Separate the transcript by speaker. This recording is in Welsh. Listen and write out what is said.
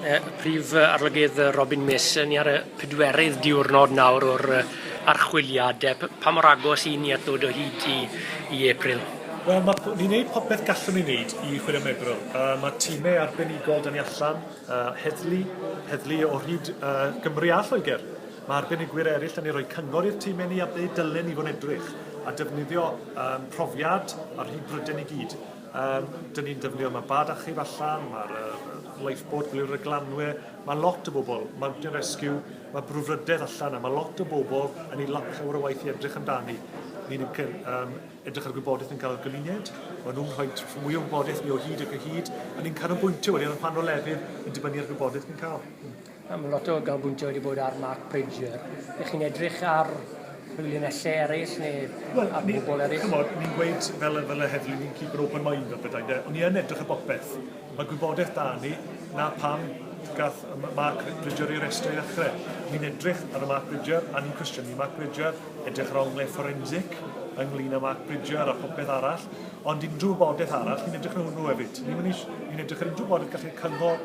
Speaker 1: Y Prif Arolygydd Robin Mason, ni ar y pedwerydd diwrnod nawr o'r archwiliad. Pa mor agos i ni at ddod o hyd i, i April? Wel, mae, ni'n
Speaker 2: gwneud popeth gallwn ni wneud i chwilio am Ebril. Uh, mae tîmau arbenigol dyn ni allan, uh, heddlu, heddlu o hyd uh, Gymru a Lloegr. Mae arbenigwyr eraill yn ei roi cyngor i'r tîmau ni a ble dylen ni fod edrych, a defnyddio um, profiad a'r hyd bryden i gyd. Yym, dyn ni'n defnyddio, mae bad achub allan, mae'r uh, lifeboat, gwyliwr y glanwe, mae lot o bobl, Mountain Rescue, mae brwfrydedd allan, a mae lot o bobl yn ei lap llawer o waith i edrych amdani. Ni'n um, edrych ar gwybodaeth yn cael gymuned, maen nhw'n rhoi mwy o wybodaeth ni o hyd ac o hyd, a ni'n canolbwyntio wedyn ar rhan o lefydd yn dibynnu ar gwybodaeth ni'n cael. Mae lot o
Speaker 1: ganolbwyntio wedi bod ar Mark Bridger. Ydych chi'n edrych ar rhyw linellau eraill neu well, ar bobl eraill? Chymod, ni'n gweud fel,
Speaker 2: fel y heddlu, ni'n keep an open mind fel bethau de. Ond i yn edrych ar bopeth. Mae gwybodaeth da ni, na pam gath Mark Bridger ei restru i ddechrau. Ni'n edrych ar y Mark Bridger a ni'n cwestiynu Mark Bridger, edrych ar onglau fforensic ynglyn â Mark Bridger a phopeth arall. Ond unrhyw wybodaeth arall, ni'n edrych ar hwnnw hefyd. Ni'n ni edrych ar unrhyw wybodaeth gallu cyngor